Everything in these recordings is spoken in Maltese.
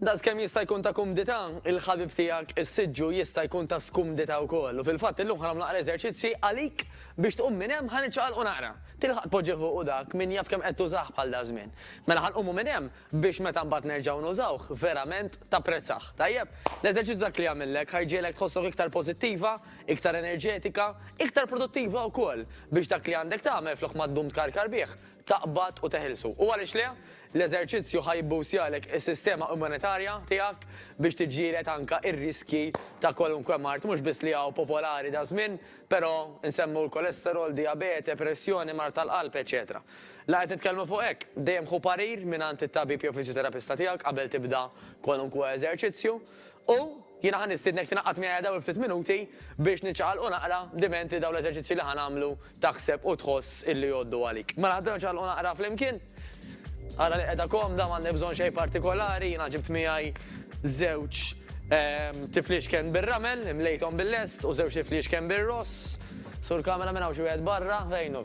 Daqskemm jista' jkun ta' kumdità, il-ħabib tiegħek is-siġġu jista' jkun ta' skumdità wkoll. U fil-fatt illum ħa nagħmlu naqra eżerċizzji għalik biex tqum minn hemm ħa niċċaqalqu naqra. Tilħaq tpoġġih u dak min jaf kemm qed tużah bħal daż-żmien. Mela ħa nqumu minn hemm biex meta mbagħad nerġgħu nużawh verament tapprezzah. Tajjeb? L-eżerċizzju dak li jagħmillek ħa jġiegħlek tħossok iktar pożittiva, iktar enerġetika, iktar produttiva wkoll biex dak li għandek tagħmel flok ma ddum tkarkar bih, taqbad u teħilsu. U għaliex le, l-eżerċizzju ħa jibbuwstjalek is-sistema immunitarja tiegħek biex tiġġieled anke r-riskji ta' kwalunkwe mard, mhux biss li hawn popolari daż-żmien, però nsemmu l-kolesterol, dijabete, pressjoni, mard tal-qalb, eċċetera La qed nitkellmu fuq hekk. Dejjem ħu parir mingħand it-tabib jew fiżjoterapista tiegħek qabel tibda kwalunkwe eżerċizzju. U jiena ħa nistiednek tingħaqad miegħi dawn il-ftit minuti biex niċċaqalqu naqra diment li dawn l-eżerċizzji li ħa nagħmlu taħseb u tħoss illi jgħoddu għalik. Mela ħdejna ċaqalqu naqra flimkien. Ara li qiegħda komda m'għandek bżonn xejn partikolari, jiena ġibt miegħi żewġ ehm, tifliexken bir-ramel, imlejthom bil-lest u żewġ tifliexken bir-ross. Sur kamera minn hawn xi wieħed barra, fejnu.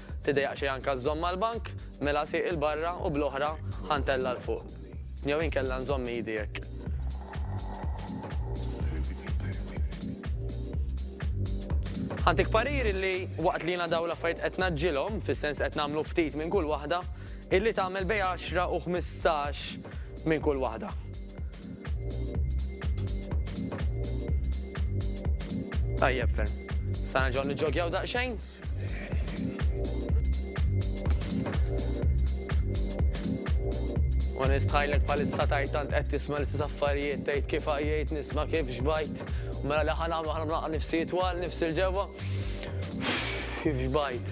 Tiddejjaq xejn anke żżomm mal-bank, mela sieq 'il barra u bl-oħra ħa ntella' 'l fuq. Jew inkella nżomm idi hekk. Ħa ntik parir illi waqt li jiena dawn l-affarijiet qed ngħaġġilhom, fis-sens qed nagħmlu ftit minn kull waħda, illi tagħmel bejn għaxra u ħmistax minn kull waħda. Tajjeb ferm. Sa nerġgħu niġġogjaw daqsxejn? Ma nistħajlek palissa tajt tant qed tisma' l-istess affarijiet tgħid kif għajjejt nisma' kif xbajt. Mela li ħana għamlu ħana mlaqqa nifsi twal nifsi l-ġewwa. Kif xbajt.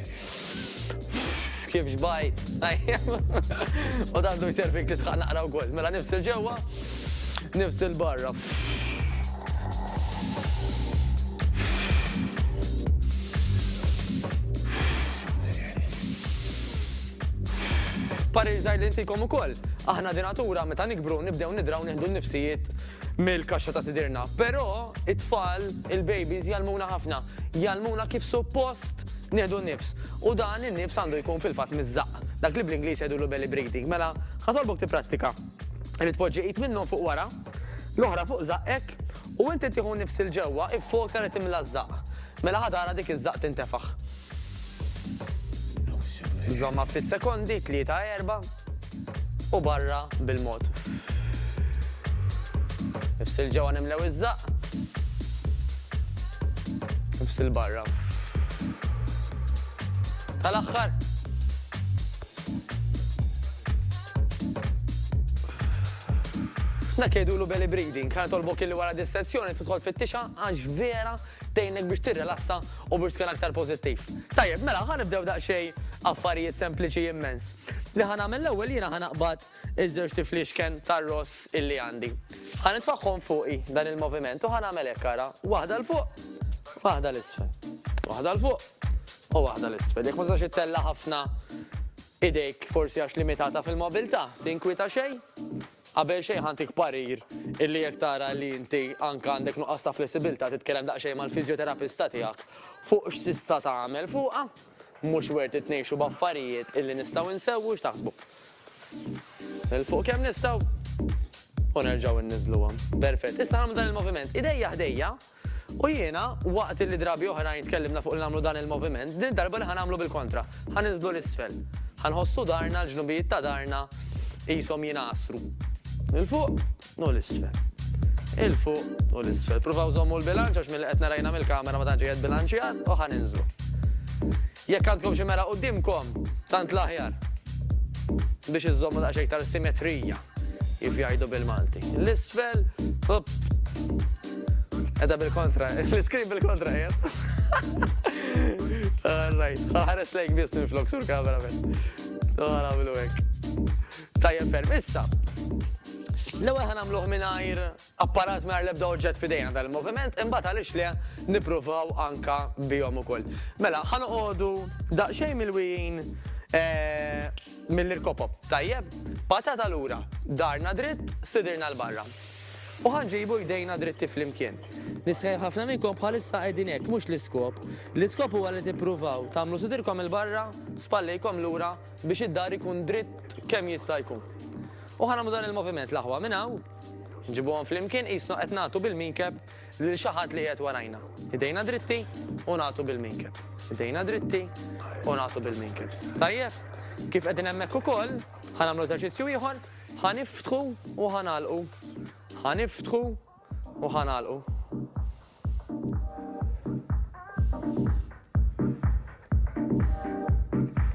Kif xbajt. U dan du jserfik titħaq naqra wkoll. Mela nifsi l-ġewwa nifsi l-barra. Parir żgħir li ntikom ukoll. Aħna di natura meta nikbru nibdew nidraw nieħdu n-nifsijiet mill-kaxxa ta' sidirna. Però it-tfal, il-babies jalmuna ħafna, jalmuna kif suppost nieħdu n-nifs. U dan in-nifs għandu jkun fil-fatt miżżaq. Dak li bl-Ingliż jgħidulu belly breathing. Mela, ħasalbok tipprattika. Li tpoġġi id minnhom fuq wara, l-oħra fuq żaqqek u inti tieħu nifs 'il ġewwa, iffoka li timla ż-żaqq. Mela ħa tara dik iż-żaqq tintefaħ. Żommha ftit sekondi, tlieta, erba', u barra bil-mod. Nifs 'il ġewwa nimlew iż-żaqq. Nifs 'il barra. Tal-aħħar. Dak jgħidulu belly breathing, ħa nitolbok illi wara dis-sezzjoni tidħol fit-tixha għax vera tgħinek biex tirrilassa u biex tkun aktar pożittiv. Tajjeb, mela ħa nibdew daqsxejn affarijiet sempliċi immens. Li ħa nagħmel l-ewwel jiena ħa naqbad Iż-żewġ tifliexken tar-ross illi għandi. Ħa nitfagħhom fuqi dan il-moviment u ħa nagħmel hekk ara, waħda 'l fuq, waħda 'l isfel. Waħda 'l fuq u waħda 'l isfel. Jekk ma tistax ittella' ħafna idejk forsi għax limitata fil-mobilità, tinkwieta xejn? Qabel xejn ħantik parir illi jekk tara li inti anke għandek nuqqas ta' flessibilità titkellem daqsxejn mal-fiżjoterapista tiegħek fuq x'tista' tagħmel fuqha. Mhux worth it ngħixu b'affarijiet illi nistgħu nsewwu x'taħsbu? Nilfuq kemm nistgħu u nerġgħu inniżluha. Perfett. Issa nagħmlu dan il-moviment idejja ħdejja u jiena waqt illi drabi oħrajn tkellimna fuq li nagħmlu dan il-moviment, din id-darba li ħa nagħmlu bil-kontra. Ħa ninżlu 'l isfel. Ħa nħossu darna, l-ġnubijiet ta' darna qishom jingħasru. 'l fuq. u l-isfel. Il-fuq u l-isfel. Pruvaw żommu l-bilanċ għax milli qed narajna mill-kamera ma tantx qiegħed bilanċjat u ħa ninżlu. Jekk għandkom xi mera quddiemkom, tant l-aħjar biex iżommu daqsxejn iktar simetrija kif jgħidu bil-Malti. L-isfel, hop. Edha bil-kontra, l-iskrin bil-kontra jgħid. All right, ħares lejk biss minn flok sur kamera minn. Għara bilu hekk. Tajjeb ferm, issa. L-ewwel ħa nagħmluh mingħajr apparat mingħajr l-ebda oġġett f'idejna dan il-moviment, imbagħad għaliex le nippruvaw anka bihom ukoll. Mela, ħa noqogħdu daqsxejn mill-wijin eh, mill-irkopop. Tajjeb, patata lura, darna dritt, sidirna l-barra. U ħanġibu jdejna dritti fl-imkien. Nisħel ħafna minnkom bħalissa qegħdin hekk, mhux l-iskop. L-iskop huwa li tippruvaw tagħmlu sidirkom il-barra, spallejkom lura biex id-dahr ikun dritt kemm jista' jkun. U ħa nagħmlu dan il-moviment l-aħwa minn hawn, nġibuhom flimkien qisna qed nagħtu bil-minkeb lil xi ħadd li qiegħed warajna. Idejna dritti u nagħtu bil-minkeb. Idejna dritti u nagħtu bil-minkeb. Tajjeb? Kif qegħdin hemmhekk ukoll, ħa nagħmlu eżerċizzju ieħor, ħa niftħu u ħa nagħlqu. Ħa niftħu U ħa nagħlqu.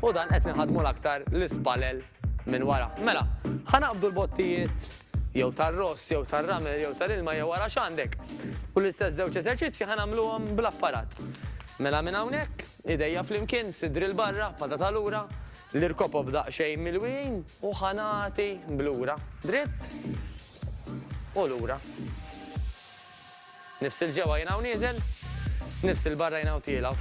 U dan qed nħadmu l-aktar l-ispalel minn wara. Mela, ħa naqbdu l-bottijiet jew tar-ross, jew tar-ramel, jew tal-ilma, jew wara x'għandek. U l-istess żewġ eżerċizzji ħa nagħmluhom bl-apparat. Mela minn hawnhekk, idejja flimkien, sidri l-barra, pata tal-ura, l-irkopob daqsxejn mill-wijin, U ħa nagħti blura. Dritt u lura. Nifs 'il ġewwa jien hawn nieżel, nifs 'il barra jien hawn tiela'.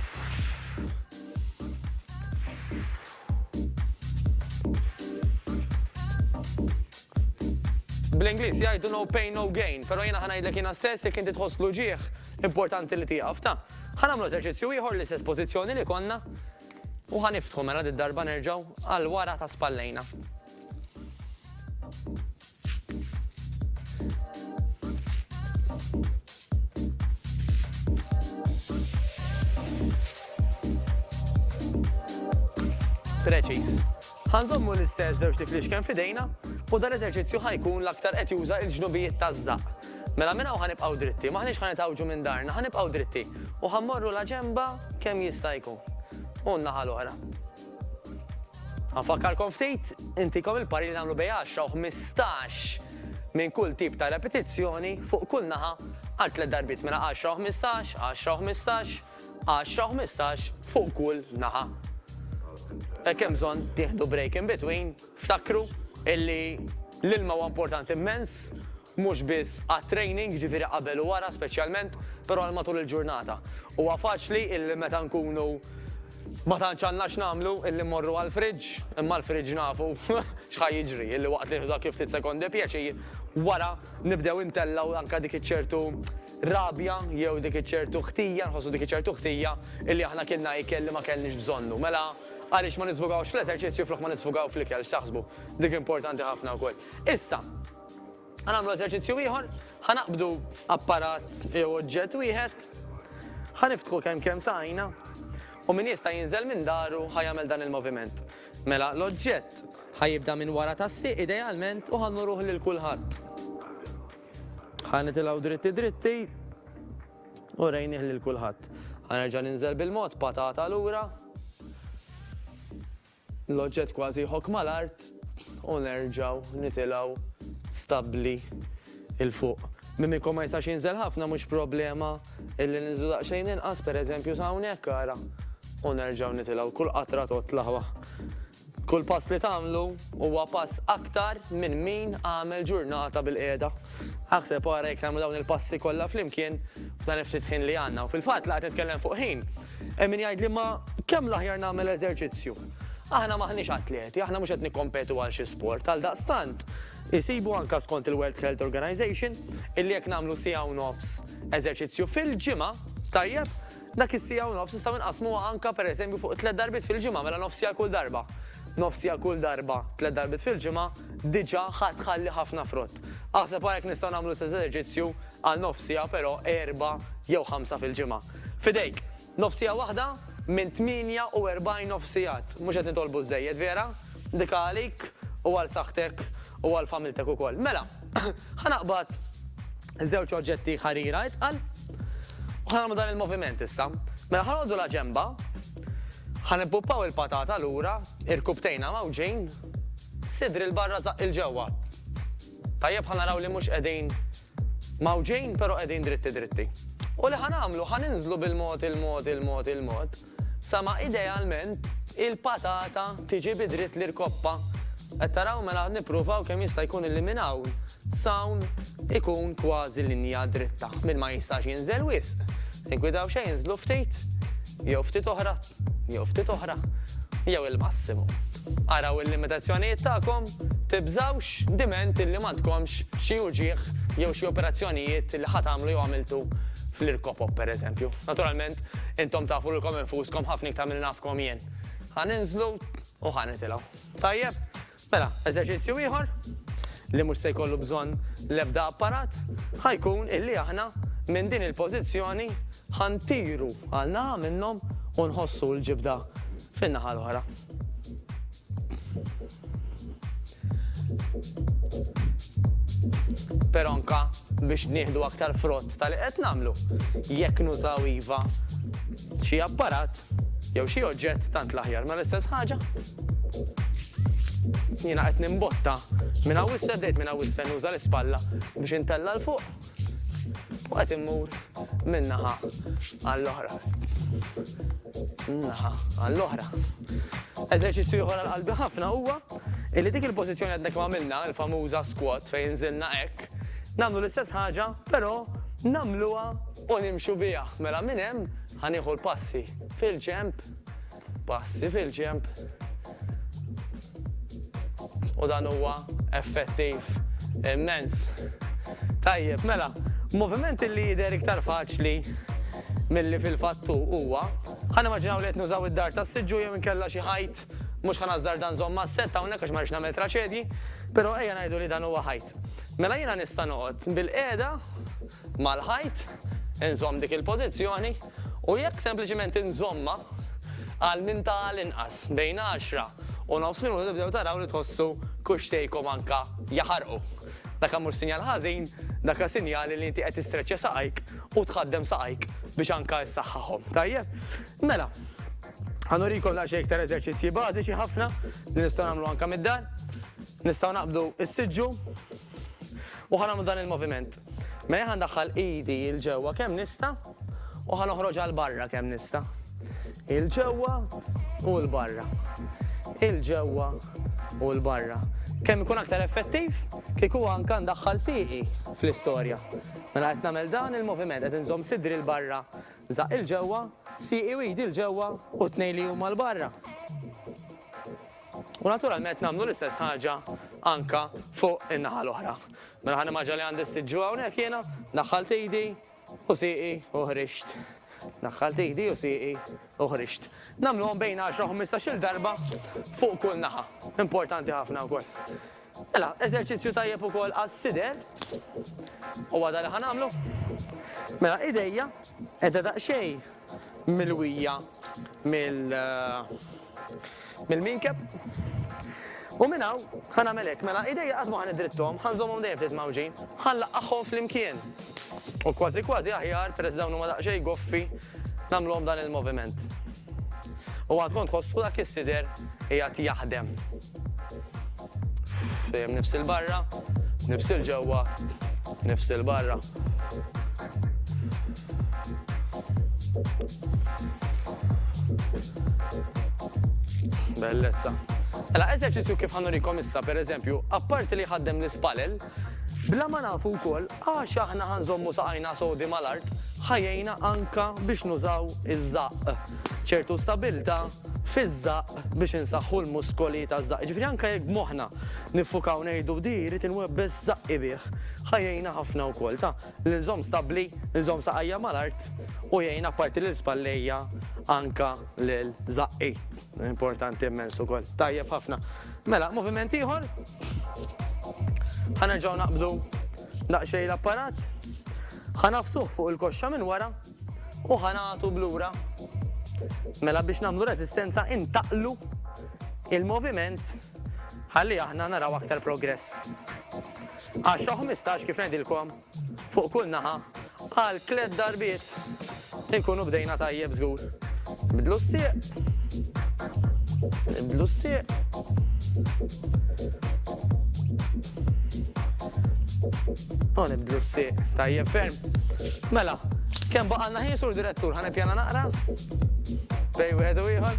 Bl-Ingliż jgħidu no pain no gain, però jiena ħa ngħidlek jiena stess jekk inti tħoss l-uġigħ, importanti li tieqaf, ta. Ħa nagħmlu eżerċizzju ieħor l-istess pożizzjoni li konna, U ħa niftħu mela did-darba nerġgħu għal wara ta' spallejna. Preċiż. Ħa nżommu l-istess żewġt tiflix kemm f'idejna u dan l-eżerċizzju ħa jkun l-aktar qed juża l-ġnubijiet taż-żaqq. Mela minn hawn ħa nibqgħu dritti, m'aħniex ħa nitgħawġu minn darna, ħa nibqgħu dritti u ħa mmorru la ġenba kemm jista' jkun u n-naħa l-oħra. Ħa nfakkarkom ftit, intikom il-pari li nagħmlu bejn 10 u 15 minn kull tip ta' repetizzjoni fuq kull naħa għal tliet darbiet mela 10 u 15, 10 u 15, Għaxra u ħmistax fuq kull naħa. Hekk hemm bżonn tieħdu break in between, ftakru illi l-ilma huwa importanti mmens, mhux biss għat-training, ġifieri qabel u wara speċjalment, però għal matul il-ġurnata. Huwa faċli illi meta nkunu ma tantx għandna x'nagħmlu illi mmorru għall-fridge, imma l-fridge nafu x'ħa jiġri, illi waqt li nieħdu dak il-ftit sekondi pjaċir, wara nibdew intellgħu anke dik iċ-ċertu rabja jew dik iċ-ċertu ħtija, nħossu dik iċ-ċertu ħtija illi aħna kienna ikel li ma kellniex bżonnu. Mela, għaliex ma nisfogawx fl-eżerċizzju flok ma nisfogaw fl-ikel, x'taħsbu? Dik importanti ħafna wkoll. Issa, ħa nagħmlu eżerċizzju ieħor, ħa naqbdu apparat jew oġġett wieħed, ħa niftħu kemm kemm sajna, u min jista' jinżel minn daru ħa jagħmel dan il-moviment. Mela, l-oġġett ħa jibda minn wara tassi idealment u ħa nuruh lil kulħadd. Ħa nitilgħu dritti dritti u rejnih lil kulħadd. Ħa nerġa' ninżel bil-mod patata lura. L-oġġett kważi jħok mal-art u nerġgħu nitilgħu stabbli il fuq. Minn ikkom ma jistax jinżel ħafna mhux problema illi ninżlu daqsxejn inqas pereżempju sa hawnhekk ara. U nerġgħu nitilgħu kull qatra totla' Kull pass li tagħmlu huwa pass aktar minn min għamel ġurnata bil-qiegħda. Aħseb ara jekk nagħmlu dawn il-passi kollha flimkien f'dan il-ftit ħin li għandna. U fil-fatt li qed nitkellem fuq ħin, hemm min jgħidli ma kemm l-aħjar nagħmel eżerċizzju. Aħna m'aħniex atleti, aħna mhux qed nikkompetu għal xi sport, għaldaqstant isibu anke skont il-World Health Organization illi jekk nagħmlu siegħa u nofs eżerċizzju fil-ġimgħa, tajjeb, Dak is-siegħa u nofs nistgħu nqassmuha anke pereżempju fuq tliet darbiet fil-ġimgħa, mela nofsija għal kull darba. Nofsija kull darba tliet darbiet fil-ġimgħa diġà ħa tħalli ħafna frott. Aħseb ara jekk nistgħu nagħmlu l-istess eżerċizzju għal nofsija però erbgħa jew ħamsa fil-ġimgħa. F'idejk! Nofsija waħda minn 48 nofsijat. Mhux qed nitolbu żżejjed, vera? Ndika għalik u għal saħħtek u għal familtek ukoll. Mela! Ħa naqbad żewġ oġġetti ħarira itqal u ħa nagħmlu dan il-moviment issa. Mela ħanodu la ġemba, ħa nippuppaw il-patata lura, irkubtejna mawġin, sidri l-barra zaq il-ġewwa. Tajjeb ħa naraw li mhux qegħdin mawġin pero qegħdin dritti dritti. U li ħa nagħmlu ħa ninżlu bil-mod il-mod il-mod il-mod. Sa ma idealment il-patata tiġi bi dritt l-irkoppa. Qed taraw mela nippruvaw kemm jista' jkun illi minn hawn s'hawn ikun kważi linja dritta. Min ma jistax jinżel wisq, ingwidaw xejn inżlu ftit jew ftit oħra jew ftit oħra jew il-massimu. Araw il-limitazzjonijiet tagħkom, tibżgħux diment illi m'għandkomx xi uġigħ jew xi operazzjonijiet li ħa tagħmlu jew għamiltu fl-irkopop pereżempju. Naturalment Intom tafu lilkom infuskom ħafna iktar milli nafkom jien. Ħa ninżlu u ħa nitilgħu. Tajjeb? Mela, eżerċizzju ieħor li mhux se jkollu bżonn l-ebda apparat ħa jkun illi aħna minn din il-pożizzjoni ħa ntiru għal naħa minnhom u nħossu l-ġibda fin-naħa l-oħra. Però anke biex nieħdu aktar frott ta' li qed nagħmlu, jekk nużaw iva xi apparat jew xi oġġett tant l-aħjar. Mela l-istess ħaġa, jiena qed nimbotta minn hawn 'issa, bdejt minn hawn 'issa nuża l-ispalla biex intella' 'l fuq. U għat immur minnaħa għall-oħra. Minnaħa għall-oħra. Eżerċizzju ieħor għal-qalbi ħafna huwa illi dik il-pożizzjoni għadnek ma' minna, il-famuża squat fejn zilna hekk, nagħmlu l-istess ħaġa, però nagħmluha u nimxu biha. Mela minn hemm ħanieħu l-passi fil-ġemp Passi fil-ġenb. U dan huwa effettiv immens. Tajjeb, mela, moviment li jidher iktar faċli milli fil-fatt hu huwa, ħa nimmaġinaw li qed nużaw id-dar tas-siġġu jew inkella xi ħajt, mhux ħa nażżarda nżomm mas-sett hawnhekk għax ma rridx nagħmel traċedji, però ejja ngħidu li dan huwa ħajt. Mela jiena nista' noqgħod bil-qiegħda mal-ħajt, inżomm dik il-pożizzjoni u jekk sempliċiment inżommha għal minn ta' għal inqas bejn għaxra u nofs minuta tibdew taraw li tħossu kuxxtejkom anke jaħarqu. Daka mhux sinjal ħażin, daka sinjali li inti qed tistreċċja saqajk u tħaddem saqajk biex anke issaħħaħhom. Tajjeb? Mela, ħanurikom daqsxejn iktar eżerċizzji bażiċi ħafna li nistgħu nagħmlu anke mid-dar. Nistgħu naqbdu s-siġġu u ħa nagħmlu dan il-moviment. Mela ħa ndaħħal idi il ġewwa kemm nista' u ħa noħroġ għal barra kemm nista'. Il ġewwa u l barra. Il ġewwa u l barra. Kemm ikun aktar effettiv, kieku anka ndaħħal siqi fl-istorja. Mela qed nagħmel dan il-moviment qed inżomm sidri l-barra, żaq il-ġewwa, siqi u jdi l-ġewwa u tnej li huma l-barra. U naturalment nagħmlu l-istess ħaġa anke fuq in-naħa l-oħra. Mela ħa nimmaġina li għandi s-siġġu hawnhekk jiena, daħħalt idi u sieqi u ħriġt. Daħħalt idi u sieqi u ħriġt. Nagħmluhom bejn 10 u 15-il darba fuq kull naħa. Importanti ħafna wkoll. Mela, eżerċizzju tajjeb ukoll għas-sider. Huwa dan li ħa nagħmlu. Mela, idejja qiegħda daqsxejn milwija mill-minkeb. U minn hawn ħa nagħmel hekk, mela idejja qatt ma ħa niddritthom, ħa nżommhom dejjem ftit mgħawġin, ħa nlaqqagħhom flimkien. U kważi kważi aħjar, peress li dawn huma daqsxejn goffi, nagħmluhom dan il-moviment. U għandkom tħossu dak is-sider qiegħed jaħdem. Dejjem nifsil barra, nifsil ġewwa, nifsil barra. Bellezza. Ela, eżerċizzju kif ħanurikom issa, per eżempju, apparti li ħaddem l-ispalel, bla ma nafu wkoll għax aħna ħanżommu saqajna sodi mal-art, ħajjejna anka biex nużaw iż-żaqq. ċertu stabilta fiż-żaqq biex insaħħu l-muskoli taż-żaqq. Jiġifieri anke jekk b'moħħna niffukaw ngħidu di jrid inwebbes żaqqi bih, ħa jgħinna ħafna wkoll ta' li nżomm stabbli, nżomm saqajja mal-art u jgħin apparti lil spallejja anke lil żaqqi. Importanti immens ukoll. Tajjeb ħafna. Mela, moviment ieħor. Ħa nerġgħu naqbdu daqsxejn l-apparat. Ħa nafsuh fuq il-koxxa minn wara. u ħa nagħtu b'lura. Mela biex nagħmlu reżistenza intaqlu il-moviment ħalli aħna naraw aktar progress. 10-15 kif ngħidilkom fuq kull naħa għal tliet darbiet inkunu bdejna tajjeb żgur. Bidlu s-sieq. Bidlu s-sieq. Hawn hemm twissieq tajjeb ferm. Mela, kemm baqalna ħin sur direttur ħan ippjana naqra? Bej wieħed u ieħor.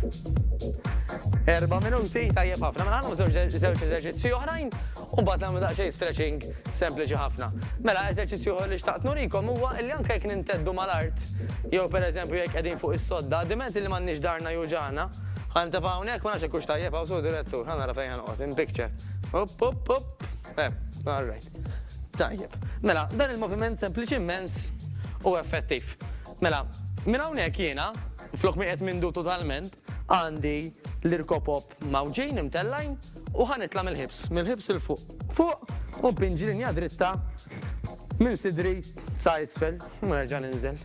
Erba' minuti tajjeb ħafna. Mela ħanhom żewġ eżerċizzji oħrajn u mbagħad nagħmlu daqsxejn stretching sempliċi ħafna. Mela eżerċizzju oħra li xtaqt nurikom huwa li anke jekk ninteddu mal-art jew pereżempju jekk qegħdin fuq is-sodda, diment li m'għandniex darna juġana, Għanta fa' unek, ma' naċek kux tajjeb, għaw sur direttur, għanna rafajn għanqos, in picture. Up, up, up. Eh, all right. Tajjeb. Mela, dan il-moviment sempliċi immens u effettiv. Mela, minn hawnhekk jiena, flok ma qiegħed mindu totalment, għandi l-irkopop mawġin imtellajn u ħanitla mill-ħibs, mill-ħibs il fuq. Fuq, u pinġi linja dritta minn sidri sa' isfel, u nerġa' ninżel.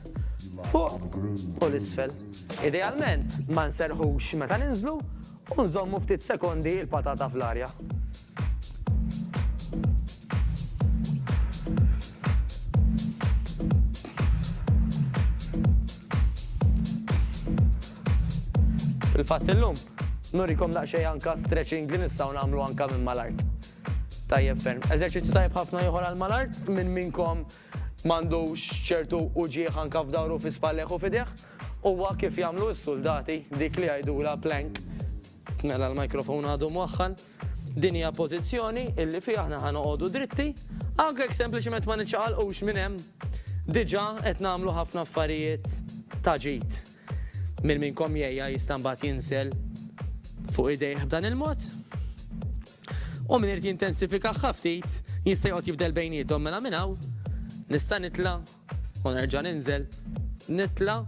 Fuq u l-isfel. Idealment, ma nserħux meta ninżlu U nżommu ftit sekondi l-patata fl-arja. Fil-fatt illum, nurikom daqsxejn anke stretching li nistgħu nagħmlu anke minn mal-art. Tajjeb ferm. Eżerċizzju tajjeb ħafna ieħor għall-mal-art, minn minnkom M'għandux ċertu uġigħ anke f'dahru, fi spallejh u f'idejh? Huwa kif jagħmlu s-suldati, dik li jgħidulha plank. Mela l-microphone għadu mwaħħal. Din hija pożizzjoni illi fiha aħna ħa noqogħdu dritti, anke jekk sempliċement ma niċċaqalqux minn hemm. Diġà qed nagħmlu ħafna affarijiet ta' ġid. Min minnkom jgħiha jista' mbagħad jinsel fuq idejh b'dan il-mod? U min irid jintensifikaha ftit jista' joqgħod jibdel bejniethom mela minn hawn nista' nitla' u nerġa' ninżel, nitla'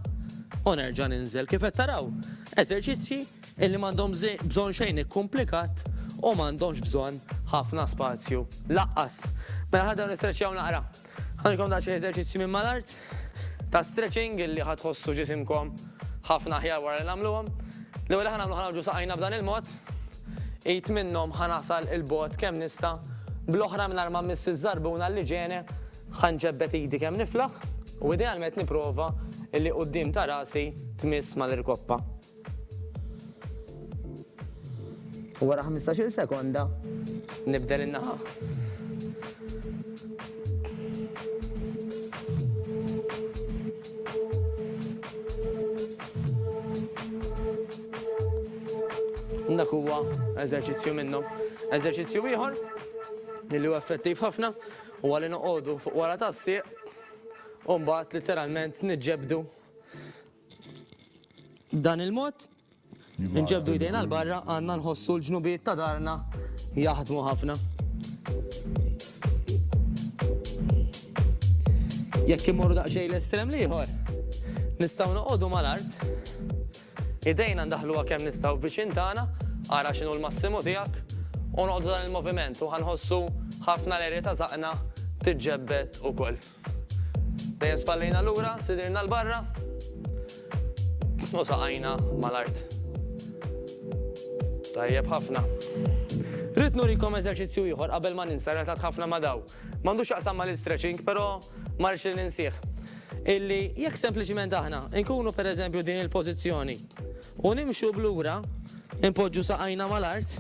u nerġa' ninżel. Kif qed taraw? Eżerċizzji illi m'għandhom bżonn xejn ikkumplikat u m'għandhomx bżonn ħafna spazju laqqas. Mela ħa nibdew nistreċjaw naqra. Ħanilkom daqsxejn eżerċizzji minn mal-art ta' stretching illi ħa tħossu ġisimkom ħafna aħjar wara li nagħmluhom. L-ewwel li ħa nagħmlu ħa ngħawġu saqajna b'dan il-mod. Id minnhom ħa nasal 'il bogħod kemm nista', bl-oħra mingħajr ma mmiss iż-żarbuna li ġeni, ħa nġebbed idi kemm niflaħ u idealment nipprova illi quddiem ta' rasi tmiss mal-irkoppa. U wara ħmistax-il sekonda nibdel in-naħa. Dak huwa eżerċizzju minnhom. Eżerċizzju ieħor li huwa effettiv ħafna u għalli noqogħdu fuq wara tas-sieq u mbagħad literalment niġġebdu B'dan il-mod, inġeddu jdejna 'l barra għandna nħossu l-ġnubijiet ta' darna jaħdmu ħafna. Jekk immorru daqsxejn l-estrem l-ieħor, nistgħu noqogħdu mal-art, idejna ndaħħluha kemm nistgħu viċin tagħna, ara x'inhu l-massimu tiegħek, u noqogħdu dan il-moviment u ħa nħossu ħafna l-erja ta' żaqqna tiġġebbed ukoll. Dejjem spallejna lura, sidirna l-barra u saqajna mal-art. Tajjeb ħafna. Rrid nurikom eżerċizzju ieħor qabel ma ninsa relatat ħafna ma' daw. M'għandux x'jaqsam mal-istretching, però ma rridx li ninsih. Illi jekk sempliċiment aħna nkunu pereżempju din il-pożizzjoni u nimxu b'lura, inpoġġu saqajna mal-art,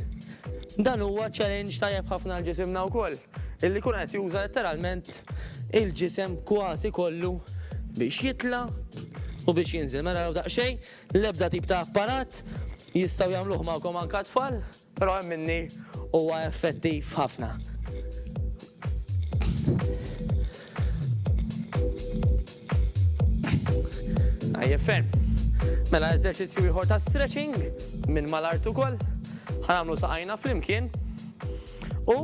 dan huwa challenge tajjeb ħafna għal ġisimna wkoll. Illi jkun qed juża letteralment il-ġisem kważi kollu biex jitla' u biex jinżel. Mela raw daqsxejn, l-ebda tip ta' apparat, jistgħu jagħmluh magħkom anke t-tfal, però hemm minni huwa effettiv ħafna. Tajjeb ferm. Mela eżerċizzju ieħor ta' stretching minn mal-art ukoll. Ħa nagħmlu saqajna flimkien. U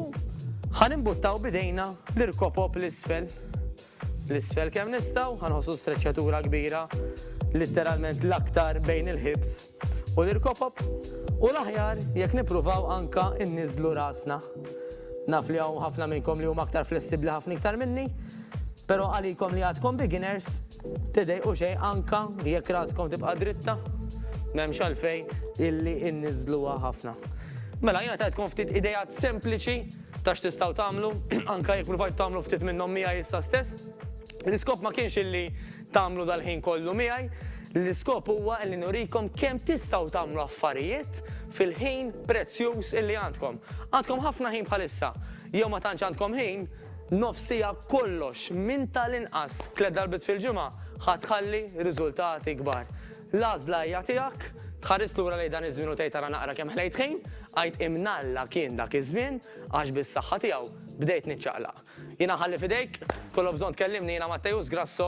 ħa nimbuttaw b'idejna l-irkopop 'l isfel. 'l isfel kemm nistgħu, ħa nħossu streċċatura kbira, litteralment l-aktar bejn il-ħibs u l-irkopop, u l-aħjar jekk nippruvaw anke nniżżlu rasna. Naf li hawn ħafna minnkom li huma aktar flessibbli ħafna iktar minni, però għalikom li għadkom beginners, Tidejqu xejn anke jekk raskom tibqa' dritta, m'hemmx għalfejn illi inniżżluha ħafna. Mela, jiena tajtkom ftit ideat sempliċi ta' x'tistgħu tagħmlu, anke jekk pruvajtu tagħmlu ftit minnhom miegħi issa stess. L-iskop ma kienx illi tagħmlu dal-ħin kollu miegħi, l-iskop huwa illi nurikom kemm tistgħu tagħmlu affarijiet fil-ħin prezzjuż illi għandkom. Għandkom ħafna ħin bħalissa, jew ma tantx għandkom ħin, Nofs siegħa kollox, minn tal-inqas tliet darbiet fil-ġimgħa, ħa tħalli riżultati kbar. L-għażla hija tiegħek. Tħares lura lejn dan iż-żmien u tgħid ara naqra kemm ħlejt ħin, għid imnalla kien dak iż-żmien għax bis-saħħa tiegħu bdejt niċċaqlaq. Jiena nħalli f'idejk, tkollok bżonn tkellimni jiena Matteus Grasso.